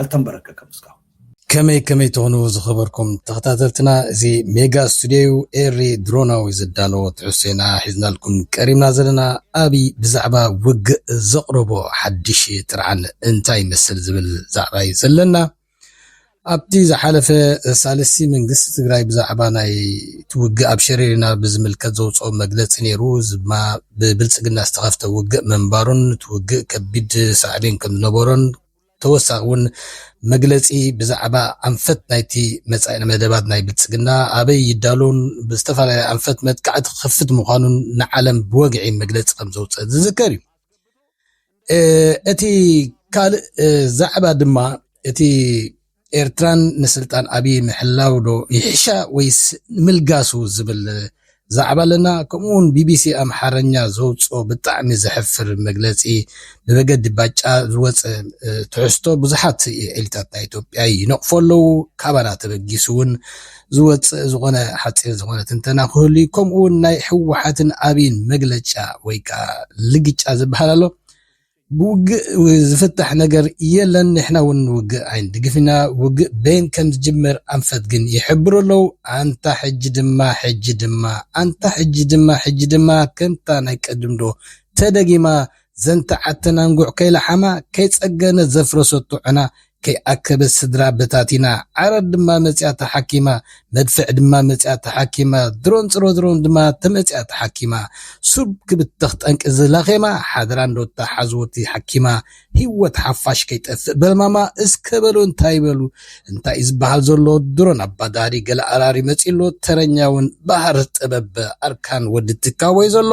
ኣልተንበረከከም እስካሁን። ከመይ ከመይ ትኹኑ ዝኸበርኩም ተኸታተልትና እዚ ሜጋ ስቱድዮ ዩ ኤሪ ድሮናዊ ዘዳለዎ ትሕዝቶ ኢና ሒዝናልኩም ቀሪብና ዘለና ኣብይ ብዛዕባ ውግእ ዘቕረቦ ሓድሽ ጥርዓን እንታይ ይመስል ዝብል ዛዕባ ዩ ዘለና ኣብቲ ዝሓለፈ ሳልስቲ መንግስቲ ትግራይ ብዛዕባ ናይ እቲ ውግእ ኣብ ሸሪሪና ብዝምልከት ዘውፅኦ መግለፂ ነይሩ እዚ ድማ ብብልፅግና ዝተኸፍተ ውግእ ምንባሩን እቲ ውግእ ከቢድ ሳዕቤን ከም ዝነበሮን ተወሳኺ እውን መግለፂ ብዛዕባ ኣንፈት ናይቲ መፃኢ መደባት ናይ ብልፅግና ኣበይ ይዳሎን ብዝተፈላለየ ኣንፈት መጥቃዕቲ ክኸፍት ምዃኑን ንዓለም ብወግዒ መግለፂ ከም ዘውፅአ ዝዝከር እዩ እቲ ካልእ ዛዕባ ድማ እቲ ኤርትራን ንስልጣን ኣብይ ምሕላው ዶ ይሕሻ ወይስ ንምልጋሱ ዝብል ዛዕባ ኣለና ከምኡ ውን ቢቢሲ ኣምሓረኛ ዘውጽኦ ብጣዕሚ ዘሕፍር መግለጺ ብመገዲ ባጫ ዝወጸ ትሕዝቶ ብዙሓት ዒልታት ናይ ኢትዮጵያ ይነቕፎ ኣለዉ ካባና ተበጊሱ ውን ዝወጽእ ዝኾነ ሓጺር ዝኾነ ትንተና ክህሉ እዩ ከምኡ ውን ናይ ህወሓትን ኣብይን መግለጫ ወይ ከዓ ልግጫ ዝበሃል ኣሎ ብውግእ ዝፍታሕ ነገር የለን ንሕና ውን ንውግእ ኣይንድግፍ ኢና ውግእ በየን ከም ዝጅምር ኣንፈት ግን ይሕብሩ ኣለው ኣንታ ሕጂ ድማ ሕጂ ድማ ኣንታ ሕጂ ድማ ሕጂ ድማ ከምታ ናይ ቀድም ዶ ተደጊማ ዘንተዓተን ኣንጉዕ ከይለሓማ ከይጸገነት ዘፍረሰቶ ዕና ከይኣከበት ስድራ በታቲና፣ ዓረር ድማ መጺኣ ተሓኪማ፣ መድፍዕ ድማ መጺኣ ተሓኪማ፣ ድሮን ጽሮድሮን ድማ ተመጺኣ ተሓኪማ፣ ሱብ ክብተኽ ጠንቂ እዚ ላኼማ፣ ሓደራ እንዶ እታ ሓዝወቲ ሓኪማ፣ ሂወት ሓፋሽ ከይጠፍእ በልማማ፣ እስከ በሉ እንታይ በሉ፣ እንታይ እዩ ዝበሃል ዘሎ፣ ድሮን ኣባዳሪ ገለ ኣራሪ መጺኡ ኣሎ፣ ተረኛውን በሃር ጥበብ ኣርካን ወዲ ትካቦ እዩ ዘሎ፣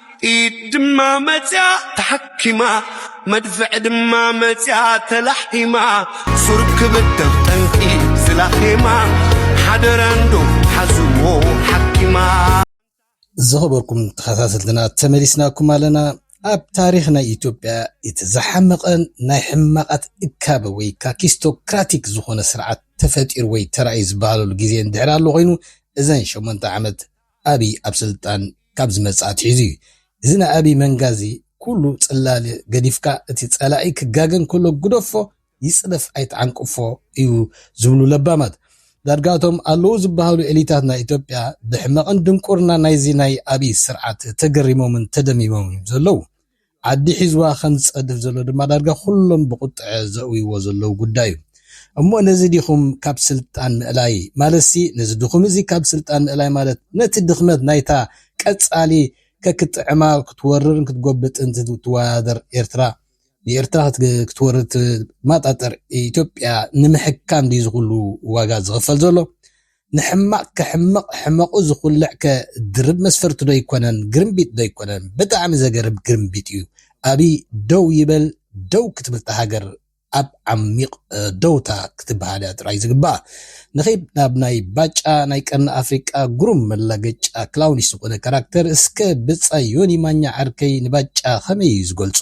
ኢድ ድማ መጽያ ተሓኪማ መድፍዕ ድማ መጽያ ተላሒማ ሱር ክብተኽ ጠንቂ ዝላኼማ ሓደራ እንዶ ሓዝዎ ሓኪማ ዝኸበርኩም ተኸታተልትና ተመሊስናኩም ኣለና ኣብ ታሪኽ ናይ ኢትዮጵያ እቲ ዝሓመቐን ናይ ሕማቓት እካበ ወይ ካኪስቶክራቲክ ዝኾነ ስርዓት ተፈጢሩ ወይ ተራእዩ ዝበሃለሉ ግዜ እንድሕር ኣሎ ኮይኑ እዘን ሸሞንተ ዓመት ኣብይ ኣብ ስልጣን ካብ ዝመጽኣ ኣትሒዙ እዩ። እዚ ናይ ኣብይ መንጋ እዚ ኩሉ ጽላል ገዲፍካ እቲ ጸላኢ ክጋገ እንከሎ ግደፎ ይጽደፍ ኣይትዓንቅፎ እዩ ዝብሉ ለባማት ዳርጋ እቶም ኣለዉ ዝበሃሉ ኤሊታት ናይ ኢትዮጵያ ብሕመቕን ድንቁርናን ናይዚ ናይ ኣብይ ስርዓት ተገሪሞምን ተደሚሞምን እዮም ዘለዉ። ዓዲ ሒዝዋ ከም ዝጸድፍ ዘሎ ድማ ዳርጋ ኩሎም ብቑጥዐ ዘእውይዎ ዘለዉ ጉዳይ እዩ። እሞ ነዚ ዲኹም ካብ ስልጣን ምእላይ ማለትሲ ነዚ ድኹም እዚ ካብ ስልጣን ምእላይ ማለት ነቲ ድኽመት ናይታ ቀጻሊ ከክጥዕማ ክትወርርን ክትጎብጥን ትዋዳደር ኤርትራ ንኤርትራ ክትወርር ትማጣጠር ኢትዮጵያ ንምሕካም ድዩ እዚ ኩሉ ዋጋ ዝኽፈል ዘሎ? ንሕማቅ ክሕምቅ ሕመቁ ዝኩልዕ ከ ድርብ መስፈርቲ ዶ ኣይኮነን ግርምቢጥ ዶ ኣይኮነን ብጣዕሚ ዘገርም ግርምቢጥ እዩ ኣብይ ደው ይበል ደው ክትብልታ ሃገር ኣብ ዓሚቅ ደውታ ክትብሃል እያ ጥራይ ዝግባኣ ንኪድ ናብ ናይ ባጫ ናይ ቀርኒ ኣፍሪቃ ጉሩም መላገጫ ክላውኒስ ዝኮነ ካራክተር እስከ ብጻይ ዮኒ ማኛ ዓርከይ ንባጫ ከመይ እዩ ዝገልጾ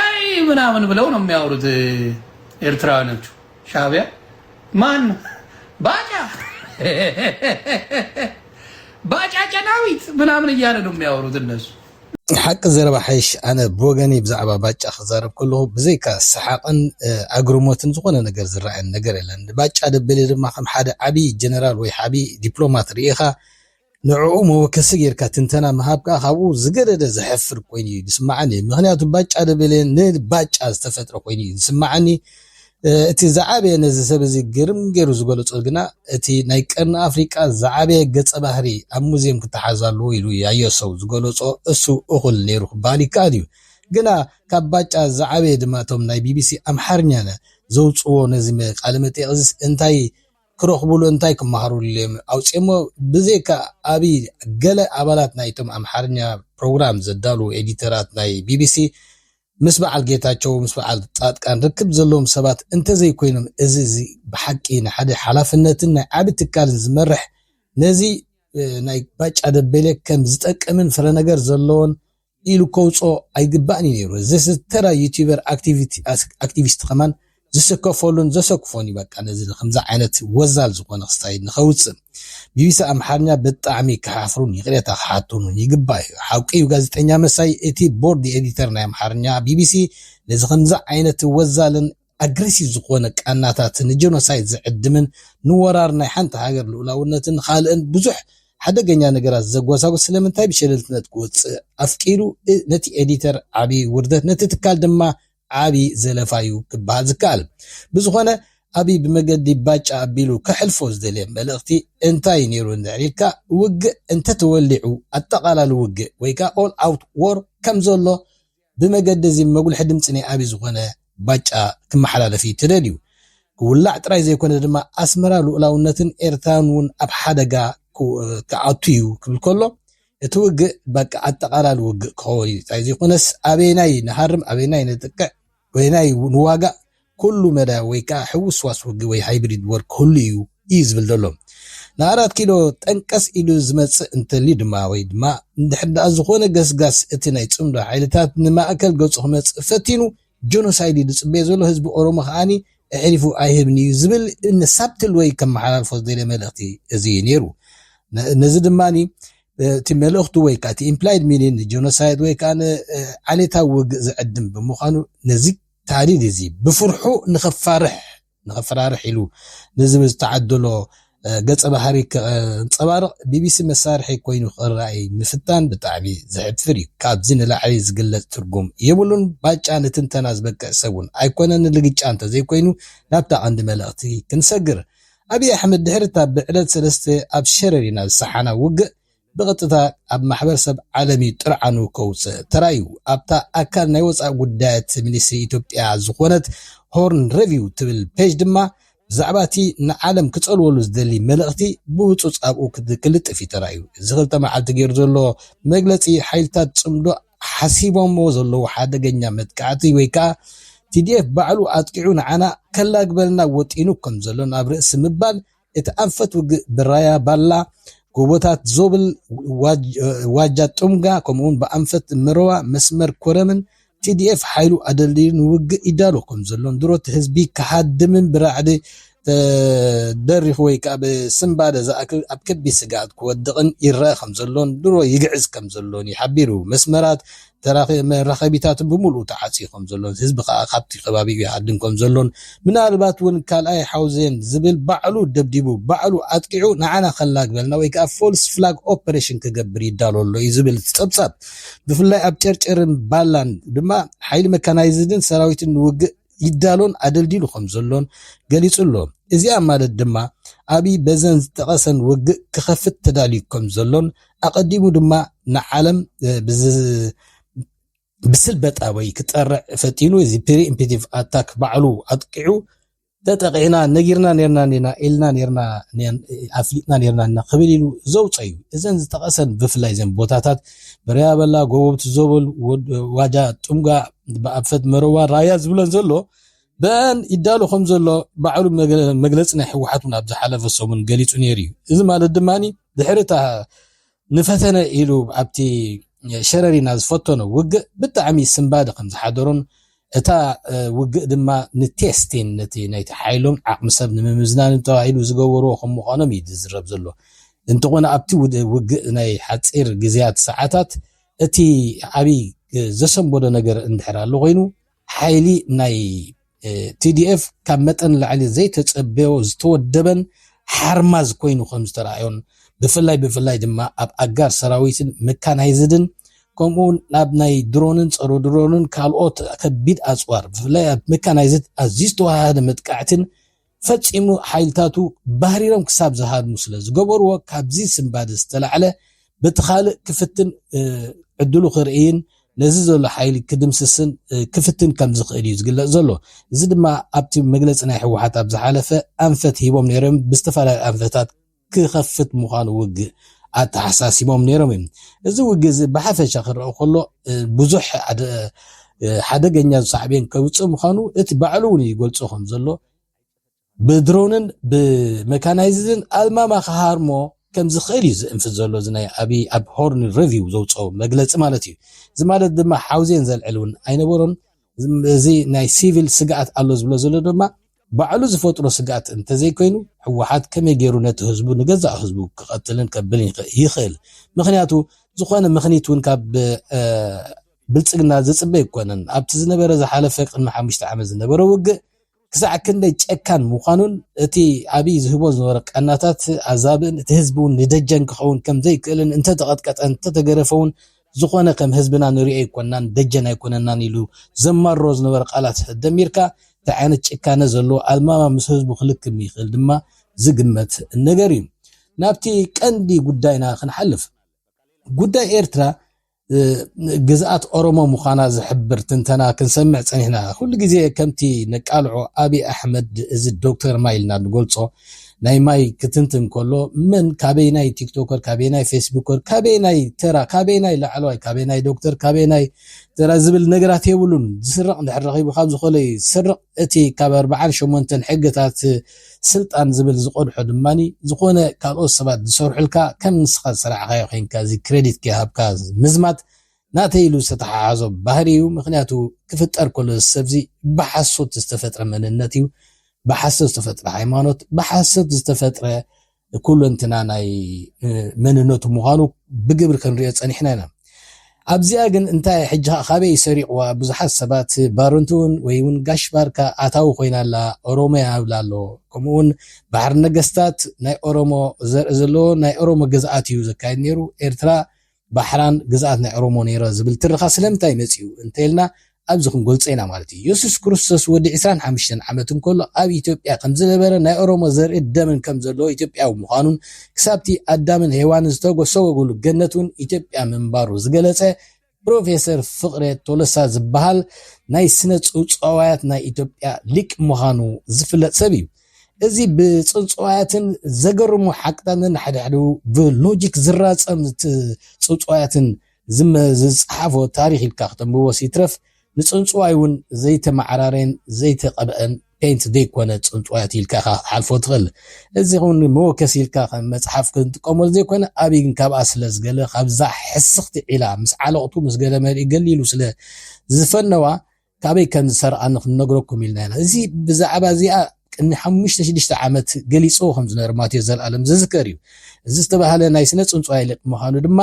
እይ ምናምን ብለው ነው የሚያወሩት ኤርትራውያኖቹ ሻቢያ ማን ባጫ ባጫ ጨናዊት ምናምን እያለ ነው የሚያወሩት እነሱ። ሓቂ ዘረባ ሓይሽ ኣነ ብወገኒ ብዛዕባ ባጫ ክዛረብ ከለኹ ብዘይካ ሰሓቕን ኣግርሞትን ዝኾነ ነገር ዝረኣየን ነገር የለን። ባጫ ደበሌ ድማ ከም ሓደ ዓብዪ ጀነራል ወይ ዓብዪ ዲፕሎማት ርኢኻ ንዕኡ መወከሲ ገይርካ ትንተና ምሃብ ከኣ ካብኡ ዝገደደ ዘሕፍር ኮይኑ'ዩ ዝስመዓኒ። ምኽንያቱ ባጫ ደበሌ ንባጫ ዝተፈጥረ ኮይኑ'ዩ ዝስመዓኒ። እቲ ዝዓበየ ነዚ ሰብ እዚ ግርም ገይሩ ዝገለጾ ግና እቲ ናይ ቀርኒ ኣፍሪቃ ዝዓበየ ገጸ ባህሪ ኣብ ሙዝየም ክተሓዝ ኣለዎ ኢሉ ያየ ሰው ዝገለጾ እሱ እኹል ነይሩ ክበሃል ይከኣል'ዩ። ግና ካብ ባጫ ዝዓበየ ድማ እቶም ናይ ቢቢሲ ኣምሓርኛ ዘውጽዎ ነዚ ቃለመጠይቕ'ዚስ እንታይ ክረኽቡሉ እንታይ ክመሃሩሉ እዮም ኣውጺኦሞ ብዘይካ ኣብይ ገለ ኣባላት ናይቶም ኣምሓርኛ ፕሮግራም ዘዳልዉ ኤዲተራት ናይ ቢቢሲ ምስ በዓል ጌታቸው ምስ በዓል ጻድቃን ርክብ ዘለዎም ሰባት እንተዘይኮይኖም እዚ እዚ ብሓቂ ንሓደ ሓላፍነትን ናይ ዓቢ ትካልን ዝመርሕ ነዚ ናይ ባጫ ደበሌ ከም ዝጠቅምን ፍረነገር ዘለዎን ኢሉ ከውጽኦ ኣይግባእን እዩ ነይሩ እዚ ተራ ዩቲበር ኣክቲቪስት ከማን ዝስከፈሉን ዘሰክፎን እዩ በቃ ነዚ ከምዚ ዓይነት ወዛል ዝኾነ ክስታይል ንኸውጽእ ቢቢሲ ኣምሓርኛ ብጣዕሚ ክሓፍሩን ይቕሬታ ክሓቱን እውን ይግባ እዩ ሓቂ እዩ ጋዜጠኛ መሳይ እቲ ቦርድ ኤዲተር ናይ ኣምሓርኛ ቢቢሲ ነዚ ከምዚ ዓይነት ወዛልን ኣግረሲቭ ዝኾነ ቃናታት ንጀኖሳይድ ዝዕድምን ንወራር ናይ ሓንቲ ሃገር ልኡላውነትን ንኻልእን ብዙሕ ሓደገኛ ነገራት ዘጎሳጉስ ስለምንታይ ብሸለልትነት ክወጽእ ኣፍቂዱ ነቲ ኤዲተር ዓቢ ውርደት ነቲ ትካል ድማ ዓቢ ዘለፋዩ ክበሃል ዝከኣል ብዝኾነ ኣብይ ብመገዲ ባጫ ኣቢሉ ከሕልፎ ዝደልየ መልእኽቲ እንታይ ነይሩ እንድሕር ኢልካ ውግእ እንተተወሊዑ ኣጠቓላሊ ውግእ ወይ ከዓ ኦል ኣውት ዎር ከም ዘሎ ብመገዲ እዚ መጉልሒ ድምጺ ናይ ኣብይ ዝኾነ ባጫ ክመሓላለፍ እዩ ተደልዩ። ክውላዕ ጥራይ ዘይኮነ ድማ ኣስመራ ልኡላውነትን ኤርትራን እውን ኣብ ሓደጋ ክኣቱ እዩ ክብል ከሎ እቲ ውግእ በቃ ኣጠቓላሊ ውግእ ክኸውን እዩ ጥራይ ዘይኮነስ ኣበየናይ ንሃርም ኣበየናይ ነጥቅዕ ኣበየናይ ንዋጋእ ኩሉ መዳይ ወይ ከኣ ሕውስ ዋስ ውግእ ወይ ሃይብሪድ ወር ክህሉ እዩ እዩ ዝብል ዘሎ። ንኣራት ኪሎ ጠንቀስ ኢሉ ዝመጽእ እንተልዩ ድማ ወይ ድማ እንድሕር ደኣ ዝኾነ ገስጋስ እቲ ናይ ጽምዶ ሓይልታት ንማእከል ገጹ ክመጽእ ፈቲኑ ጆኖሳይድ እዩ ዝጽበዮ ዘሎ ህዝቢ ኦሮሞ ከኣ እዕሪፉ ኣይህብን እዩ ዝብል ን ሳብትል ወይ ከመሓላልፎ ዝደልዮ መልእኽቲ እዚ እዩ ነይሩ። ነዚ ድማ እቲ መልእኽቱ ወይ ከኣ እቲ ኢምፕላይድ ሚኒን ንጆኖሳይድ ወይ ከኣ ንዓሌታዊ ውግእ ዝዕድም ብምዃኑ ነዚ ታህዲድ እዚ ብፍርሑ ንኸፋርሕ፣ ንኸፈራርሕ ኢሉ ንዝብል ዝተዓደሎ ገጸ ባህሪ ከንጸባርቕ ቢቢሲ መሳርሒ ኮይኑ ክረኣይ ምፍታን ብጣዕሚ ዘሕፍር እዩ። ካብዚ ንላዕሊ ዝግለጽ ትርጉም የብሉን። ባጫ ንትንተና ዝበቅዕ ሰብ እውን ኣይኮነን። ንልግጫ እንተዘይኮይኑ ናብታ ቀንዲ መልእኽቲ ክንሰግር። ኣብይ ኣሕመድ ድሕሪ እታ ብዕለት ሰለስተ ኣብ ሸረሪና ዝሰሓና ውግእ፣ ብቐጥታ ኣብ ማሕበረሰብ ዓለም'ዩ ጥርዓኑ ከውጽእ ተራእዩ። ኣብታ ኣካል ናይ ወጻኢ ጉዳያት ሚኒስትሪ ኢትዮጵያ ዝኾነት ሆርን ረቪው ትብል ፔጅ ድማ ብዛዕባ'ቲ ንዓለም ክጸልወሉ ዝደሊ መልእኽቲ ብህጹጽ ኣብኡ ክልጥፍ'ዩ ተራእዩ። እዚ ክልተ መዓልቲ ገይሩ ዘሎ መግለጺ ሓይልታት ጽምዶ ሓሲቦምዎ ዘለዉ ሓደገኛ መጥቃዕቲ ወይ ከኣ ቲዲኤፍ ባዕሉ ኣጥቂዑ ንዓና ከላግበልና ወጢኑ ከምዘሎን ኣብ ርእሲ ምባል እቲ ኣንፈት ውግእ ብራያ ባላ፣ ጎቦታት ዞብል፣ ዋጃ ጡምጋ ከምኡ'ውን ብኣንፈት መረዋ መስመር ኮረምን tdf ሓይሉ ኣደልዲሉ ንውግእ ይዳሎ ከምዘሎን ድሮ እቲ ህዝቢ ክሃድምን ብራዕዲ ተደሪኹ ወይ ከኣ ብስንባደ ዝኣክል ኣብ ከቢድ ስግኣት ክወድቕን ይረኣ ከምዘሎን ድሮ ይግዕዝ ከምዘሎን እዩ ሓቢሩ። መስመራት መራኸቢታትን ብምሉኡ ተዓጽዩ ከም ዘሎን ህዝቢ ከኣ ካብቲ ከባቢኡ ይሃድም ከም ዘሎን ምናልባት ውን ካልኣይ ሓውዜን ዝብል ባዕሉ ደብዲቡ ባዕሉ ኣጥቂዑ ንዓና ከላግበልና ወይ ከኣ ፎልስ ፍላግ ኦፐሬሽን ክገብር ይዳሎ ኣሎ እዩ ዝብል እቲ ጸብጻብ ብፍላይ ኣብ ጨርጨርን ባላን ድማ ሓይሊ መካናይዝድን ሰራዊትን ንውግእ ይዳሎን ኣደልዲሉ ከም ዘሎን ገሊጹ'ሎ። እዚኣ ማለት ድማ ኣብይ በዘን ዝጠቐሰን ወግእ ክኸፍት ተዳልዩ ከም ዘሎን ኣቐዲሙ ድማ ንዓለም ብስልበጥ ኣበይ ክጠርዕ ፈቲኑ እዚ ፕሪኢምፕቲቭ ኣታክ ባዕሉ ኣጥቂዑ ተጠቒዕና ነጊርና ኔርና ኔና ኢልና ኔርና ኣፍሊጥና ኔርና ኢና ክብል ኢሉ ዘውጸዩ እዘን ዝጠቐሰን ብፍላይ ዘን ቦታታት ብርያ በላ ጎቦብቲ ዞብል ዋጃ ጥምጋ ብኣፈት መረዋ ራያ ዝብለን ዘሎ ብአን ይዳሎ ከም ዘሎ ባዕሉ መግለፂ ናይ ህወሓት እውን ኣብ ዝሓለፈ ሰሙን ገሊፁ ነይሩ እዩ እዚ ማለት ድማ ድሕሪ እታ ንፈተነ ኢሉ ኣብቲ ሸረሪና ዝፈተኖ ውግእ ብጣዕሚ ስንባደ ከም ዝሓደሮን እታ ውግእ ድማ ንቴስቲን ነቲ ናይቲ ሓይሎም ዓቕሚ ሰብ ንምምዝናንን ተባሂሉ ዝገበርዎ ከም ምዃኖም እዩ ዝዝረብ ዘሎ። እንተኾነ ኣብቲ ውግእ ናይ ሓጺር ግዝያት ሰዓታት እቲ ዓቢ ዘሰንበዶ ነገር እንድሕር ኣሎ ኮይኑ ሓይሊ ናይ TDF ካብ መጠን ንላዕሊ ዘይተጸበዮ ዝተወደበን ሓርማዝ ኮይኑ ከም ዝተራእዮን ብፍላይ ብፍላይ ድማ ኣብ ኣጋር ሰራዊትን መካናይዝድን ከምኡ'ውን ናብ ናይ ድሮንን ጸረ ድሮንን ካልኦት ከቢድ ኣጽዋር፣ ብፍላይ ኣብ መካናይዝድ ኣዝዩ ዝተወሃሃደ መጥቃዕቲን ፈጺሙ ሓይልታቱ ባህሪሮም ክሳብ ዝሃድሙ ስለ ዝገበሩዎ ካብዚ ስንባደ ዝተላዕለ በቲ ካልእ ክፍትን ዕድሉ ክርእይን ነዚ ዘሎ ሓይሊ ክድምስስን ክፍትን ከም ዝኽእል እዩ ዝግለጽ ዘሎ። እዚ ድማ ኣብቲ መግለጺ ናይ ህወሓት ኣብ ዝሓለፈ ኣንፈት ሂቦም ነይሮም ብዝተፈላለዩ ኣንፈታት ክኸፍት ምዃኑ ውግእ ኣተሓሳሲቦም ነይሮም እዮም። እዚ ውግእ እዚ ብሓፈሻ ክረኣ ከሎ ብዙሕ ሓደገኛ ሳዕቤን ከውፅእ ምዃኑ እቲ ባዕሉ እውን ይገልፆ ከም ዘሎ ብድሮንን ብመካናይዝድን ኣልማማ ክሃርሞ ከም ዝኽእል እዩ ዝእንፍት ዘሎ እዚ ናይ ኣብይ ኣብ ሆርን ሪቪው ዘውፅኦ መግለፂ ማለት እዩ። እዚ ማለት ድማ ሓውዜን ዘልዕል እውን ኣይነበሮን። እዚ ናይ ሲቪል ስግኣት ኣሎ ዝብሎ ዘሎ ድማ ባዕሉ ዝፈጥሮ ስግኣት እንተዘይኮይኑ ህወሓት ከመይ ገይሩ ነቲ ህዝቡ ንገዛእ ህዝቡ ክቐትልን ከብልን ይኽእል? ምኽንያቱ ዝኾነ ምኽኒት እውን ካብ ብልፅግና ዝፅበ ኣይኮነን። ኣብቲ ዝነበረ ዝሓለፈ ቅድሚ ሓሙሽተ ዓመት ዝነበረ ውግእ ክሳዕ ክንደይ ጨካን ምዃኑን እቲ ኣብይ ዝህቦ ዝነበረ ቀናታት ኣዛብእን እቲ ህዝቢ እውን ንደጀን ክኸውን ከም ዘይክእልን እንተተቐጥቀጠ እንተተገረፈ እውን ዝኾነ ከም ህዝብና ንሪኦ ኣይኮናን ደጀን ኣይኮነናን ኢሉ ዘማርሮ ዝነበረ ቃላት ደሚርካ እንታይ ዓይነት ጭካነ ዘለዎ ኣዝማማ ምስ ህዝቡ ክልክም ይኽእል ድማ ዝግመት ነገር እዩ ናብቲ ቀንዲ ጉዳይና ክንሓልፍ ጉዳይ ኤርትራ ግዝኣት ኦሮሞ ምዃና ዝሕብር ትንተና ክንሰምዕ ጸኒሕና። ኩሉ ግዜ ከምቲ ነቃልዖ ኣቢይ ኣሕመድ እዚ ዶክተር ማይ ኢልና ንገልጾ ናይ ማይ ክትንትን ከሎ መን ካበየናይ ቲክቶከር ካበየናይ ፌስቡከር ካበየናይ ተራ ካበየናይ ላዕለዋይ ካበየናይ ዶክተር ካበየናይ ተራ ዝብል ነገራት የብሉን። ዝስረቕ እንድሕር ረኺቡ ካብ ዝኾነ ይስረቕ። እቲ ካብ ኣርብዓን ሸሞንተን ሕግታት ስልጣን ዝብል ዝቐድሖ ድማ ዝኾነ ካልኦት ሰባት ዝሰርሑልካ ከም ንስኻ ዝሰራዕኻዮ ኮይንካ እዚ ክረዲት ከይሃብካ ምዝማት ናተይ ኢሉ ዝተተሓሓዞ ባህሪ እዩ ምኽንያቱ ክፍጠር ከሎ እዚ ሰብዚ ብሓሶት ዝተፈጥረ መንነት እዩ ብሓሶት ዝተፈጥረ ሃይማኖት ብሓሶት ዝተፈጥረ ኩለንትና ናይ መንነቱ ምዃኑ ብግብሪ ክንሪኦ ጸኒሕና ኢና። ኣብዚኣ ግን እንታይ ሕጂ ከኣ ካበይ ሰሪቕዋ ብዙሓት ሰባት ባረንቱ'ውን ወይ ውን ጋሽ ባርካ ኣታዊ ኮይና ኣላ ኦሮሞ'ያ ይብላ ኣሎ ከምኡ ውን ባሕሪ ነገስታት ናይ ኦሮሞ ዘርኢ ዘለዎ ናይ ኦሮሞ ግዝኣት እዩ ዘካይድ ኔሩ ኤርትራ ባሕራን ግዝኣት ናይ ኦሮሞ ነይረ ዝብል ትረኻ ስለምንታይ መጺኡ እንተኢልና ኣብዚ ክንገልጾ ኢና ማለት እዩ። የሱስ ክርስቶስ ወዲ ዕስራን ሓምሽተን ዓመት እንከሎ ኣብ ኢትዮጵያ ከም ዝነበረ ናይ ኦሮሞ ዘርእን ደምን ከም ዘለዎ ኢትዮጵያዊ ምዃኑን ክሳብቲ ኣዳምን ሄዋንን ዝተሰጎጉሉ ገነት እውን ኢትዮጵያ ምንባሩ ዝገለጸ ፕሮፌሰር ፍቅሬ ቶለሳ ዝበሃል ናይ ስነ ጽውጽዋያት ናይ ኢትዮጵያ ሊቅ ምዃኑ ዝፍለጥ ሰብ እዩ። እዚ ብጽንጽዋያትን ዘገርሙ ሓቅታት ነንሓድሕዱ ብሎጂክ ዝራጸም ጽንጽዋያትን ዝጸሓፎ ታሪኽ ኢልካ ክተንብቦስ ይትረፍ ንጽንጽዋይ ውን ዘይተመዓራረየን ዘይተቐብኣን ፔንት ዘይኮነ ጽንጽዋያት ኢልካ ኢኻ ክትሓልፎ ትኽእል። እዚ ውን መወከሲ ኢልካ ከም መጽሓፍ ክንጥቀመሉ ዘይኮነ ኣብይ ግን ካብኣ ስለዝገለ ካብዛ ሕስኽቲ ዒላ ምስ ዓለቕቱ ምስ ገለ መሊኡ ገሊሉ ስለ ዝፈነዋ ካበይ ከም ዝሰርዓ ንኽንነግረኩም ኢልና ኢና። እዚ ብዛዕባ እዚኣ ቅድሚ ሓሙሽተ ሽዱሽተ ዓመት ገሊጽዎ ከም ዝነበረ ማቴዎስ ዘልኣለም ዝዝከር እዩ። እዚ ዝተባህለ ናይ ስነ ጽንጽዋይ ሊቅ ምዃኑ ድማ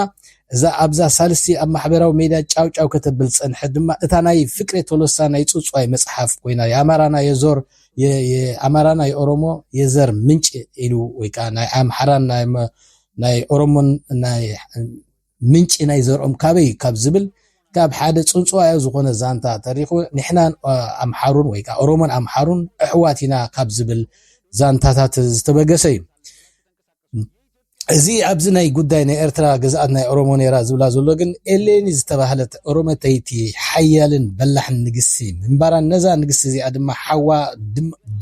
እዛ ኣብዛ ሳልስቲ ኣብ ማሕበራዊ ሜድያ ጫው ጫው ከተብል ዝጸንሐት ድማ እታ ናይ ፍቅሬ ቶሎሳ ናይ ጽውጽዋይ መጽሓፍ ኮይና የኣማራና የዞር የኣማራና የኦሮሞ የዘር ምንጭ ኢሉ ወይ ከዓ ናይ ኣምሓራን ናይ ኦሮሞን ናይ ምንጪ ናይ ዘርኦም ካበይ ካብ ዝብል ካብ ሓደ ጽንጽዋያዊ ዝኾነ ዛንታ ተሪኹ ንሕናን ኣምሓሩን ወይ ከኣ ኦሮሞን ኣምሓሩን ኣሕዋት ኢና ካብ ዝብል ዛንታታት ዝተበገሰ እዩ። እዚ ኣብዚ ናይ ጉዳይ ናይ ኤርትራ ግዝኣት ናይ ኦሮሞ ነይራ ዝብላ ዘሎ ግን ኤሌኒ ዝተባህለት ኦሮመተይቲ ሓያልን በላሕን ንግስቲ ምንባራን ነዛ ንግስቲ እዚኣ ድማ ሓዋ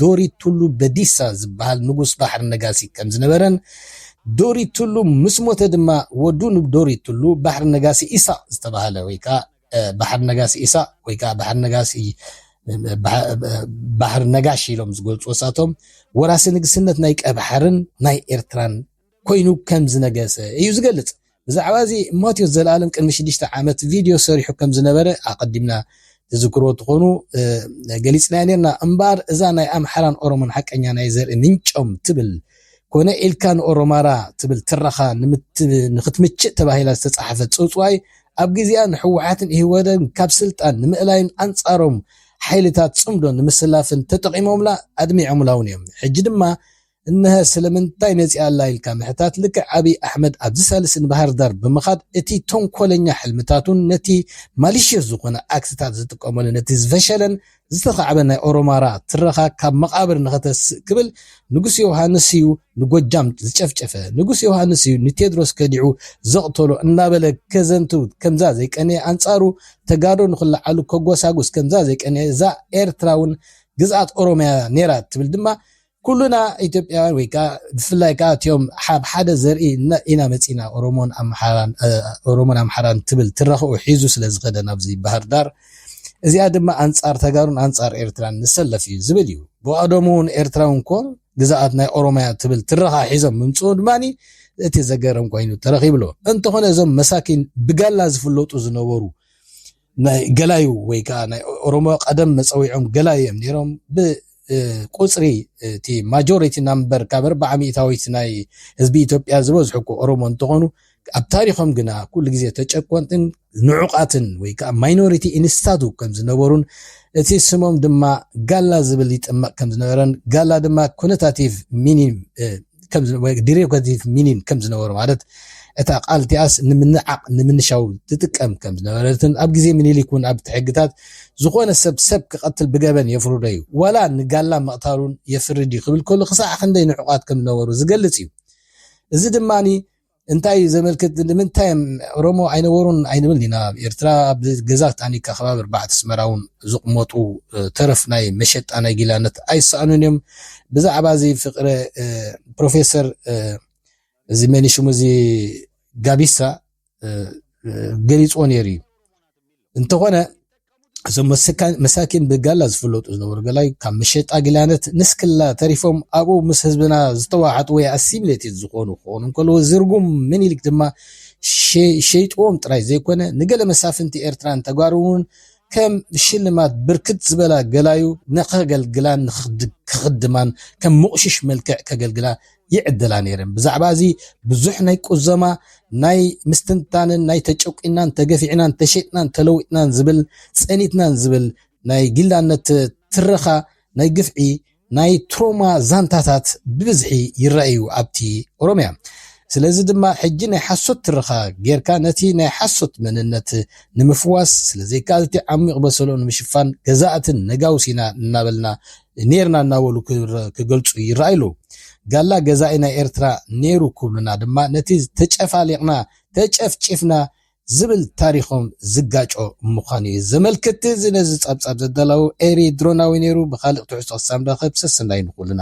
ዶሪ ቱሉ በዲሳ ዝበሃል ንጉስ ባሕሪ ነጋሲ ከም ዝነበረን ዶሪ ቱሉ ምስ ሞተ ድማ ወዱ ንዶሪ ቱሉ ባሕሪ ነጋሲ ኢሳቕ ዝተባህለ ወይ ከኣ ባሕሪ ነጋሲ ኢሳቕ ወይ ከኣ ባሕሪ ነጋሲ ባሕሪ ነጋሽ ኢሎም ዝገልጹዎ ንሳቶም ወራሲ ንግስነት ናይ ቀይባሕርን ናይ ኤርትራን ኮይኑ ከም ዝነገሰ እዩ ዝገልጽ። ብዛዕባ እዚ ማቴዎስ ዘልኣለም ቅድሚ ሽዱሽተ ዓመት ቪድዮ ሰሪሑ ከም ዝነበረ ኣቐዲምና ትዝክርዎ ትኾኑ ገሊጽናዮ ኔርና። እምበኣር እዛ ናይ ኣምሓራን ኦሮሞን ሓቀኛ ናይ ዘርኢ ምንጮም ትብል ኮነ ኢልካ ንኦሮማራ ትብል ትረኻ ንኽትምችእ ተባሂላ ዝተጻሕፈት ጽውጽዋይ ኣብ ግዜኣ ንሕወሓትን ኢህወደግን ካብ ስልጣን ንምእላይን ኣንጻሮም ሓይልታት ጽምዶ ንምስላፍን ተጠቒሞምላ ኣድሚዖምላውን እዮም። ሕጂ ድማ እነሀ ስለምንታይ መጺኣ ኣላ ኢልካ ምሕታት ልክዕ ኣብይ ኣሕመድ ኣብዚ ሳልስ ንባህርዳር ብምኻድ እቲ ቶንኮለኛ ሕልምታቱን ነቲ Malicious ዝኾነ ኣክትታት ዝጥቀመሉ ነቲ ዝፈሸለን ዝተኻዕበን ናይ ኦሮማራ ትረኻ ካብ መቓብር ንኸተስእ ክብል ንጉስ ዮውሃንስ እዩ ንጎጃም ዝጨፍጨፈ ንጉስ ዮውሃንስ እዩ ንቴድሮስ ከዲዑ ዘቕተሎ እናበለ ከዘንትው ከምዛ ዘይቀነየ ኣንጻሩ ተጋዶ ንኽለዓሉ ከጎሳጉስ ከምዛ ዘይቀነየ እዛ ኤርትራ እውን ግዝኣት ኦሮምያ ነይራ ትብል ድማ ኩሉና ኢትዮጵያውያን ወይ ከኣ ብፍላይ ከኣ እትኦም ኣብ ሓደ ዘርኢ ኢና መጺእና ኦሮሞን ኣምሓራን ኦሮሞን ኣምሓራን ትብል ትረኽኡ ሒዙ ስለ ዝኸደ ናብዚ ባህርዳር እዚኣ ድማ ኣንጻር ተጋሩን ኣንጻር ኤርትራን ንሰለፍ እዩ ዝብል እዩ ብቀደሙ እውን ኤርትራውን ኮን ግዛኣት ናይ ኦሮማያ ትብል ትረኻ ሒዞም ምምጽኡ ድማኒ እቲ ዘገርም ኮይኑ ተረኺብሎ እንተኾነ እዞም መሳኪን ብጋላ ዝፍለጡ ዝነበሩ ናይ ገላዩ ወይ ከኣ ናይ ኦሮሞ ቀደም መጸዊዖም ገላዩ እዮም ነይሮም ብ ቁጽሪ እቲ ማጆሪቲ ናምበር ካብ ኣርብዓ ሚእታዊት ናይ ህዝቢ ኢትዮጵያ ዝበዝሑ እኮ ኦሮሞ እንትኾኑ ኣብ ታሪኾም ግና ኩሉ ግዜ ተጨቆንትን ንዑቃትን ወይ ከዓ ማይኖሪቲ ኢንስታቱ ከም ዝነበሩን እቲ ስሞም ድማ ጋላ ዝብል ይጥመቕ ከም ዝነበረን ጋላ ድማ ኮነታቲቭ ሚኒም ዲሬ ገዚፍ ሚኒን ከም ዝነበሩ ማለት እታ ቃል እቲኣስ ንምንዓቕ ንምንሻው ትጥቀም ከም ዝነበረትን ኣብ ግዜ ምኒልክ እውን ኣብቲ ሕግታት ዝኾነ ሰብ ሰብ ክቐትል ብገበን የፍርዶ እዩ ዋላ ንጋላ ምቕታሉን የፍርድ እዩ ክብል ከሎ ክሳዕ ክንደይ ንዕቋት ከም ዝነበሩ ዝገልጽ እዩ እዚ ድማ እንታይ እዩ ዘመልክት ንምንታይ እም ኦሮሞ ኣይነበሩን ኣይንብል ኢና ኣብ ኤርትራ ኣብ ገዛ ታኒካ ከባቢ ኣርባዕተ ኣስመራ እውን ዝቕመጡ ተረፍ ናይ መሸጣ ናይ ጊላነት ኣይሰኣኑን እዮም ብዛዕባ እዚ ፍቅረ ፕሮፌሰር እዚ መን ሽሙ እዚ ጋቢሳ ገሊፅዎ ነይሩ እዩ እንተኾነ እዞም መሳኪን ብጋላ ዝፍለጡ ዝነበሩ ገላይ ካብ መሸጣ ጊላነት ንስክላ ተሪፎም ኣብኡ ምስ ህዝብና ዝተዋሓጡ ወይ ኣሲሚሌትድ ዝኾኑ ክኾኑ እንከለዎ ዝርጉም ምኒልክ ድማ ሸይጥዎም ጥራይ ዘይኮነ ንገለ መሳፍንቲ ኤርትራን ተጓሩውን ከም ሽልማት ብርክት ዝበላ ገላዩ ንኸገልግላን ክኽድማን ከም ምቑሽሽ መልክዕ ከገልግላ ይዕድላ ነይረን። ብዛዕባ እዚ ብዙሕ ናይ ቁዘማ ናይ ምስትንታንን ናይ ተጨቂናን ተገፊዕናን ተሸጥናን ተለዊጥናን ዝብል ጸኒትናን ዝብል ናይ ጊላነት ትረኻ ናይ ግፍዒ ናይ ትሮማ ዛንታታት ብብዝሒ ይረኣዩ ኣብቲ ኦሮምያ ስለዚ ድማ ሕጂ ናይ ሓሶት ትረኻ ጌርካ ነቲ ናይ ሓሶት መንነት ንምፍዋስ ስለዘይከኣልቲ ዓሚቕ በሰሎ ንምሽፋን ገዛእትን ነጋውሲና እናበልና ኔርና እናበሉ ክገልጹ ይረኣዩ ኣለዉ። ጋላ ገዛኢ ናይ ኤርትራ ነይሩ ክብሉና ድማ ነቲ ተጨፋሊቕና፣ ተጨፍጪፍና ዝብል ታሪኾም ዝጋጮ ምዃኑ እዩ ዘመልክት። እዚ ነዚ ጸብጻብ ዘዳለዉ ኤሪ ድሮናዊ ነይሩ። ብኻልእ ትሕዝቶ ክሳብ ንራኸብ ሰሰናዩ ንኹልና።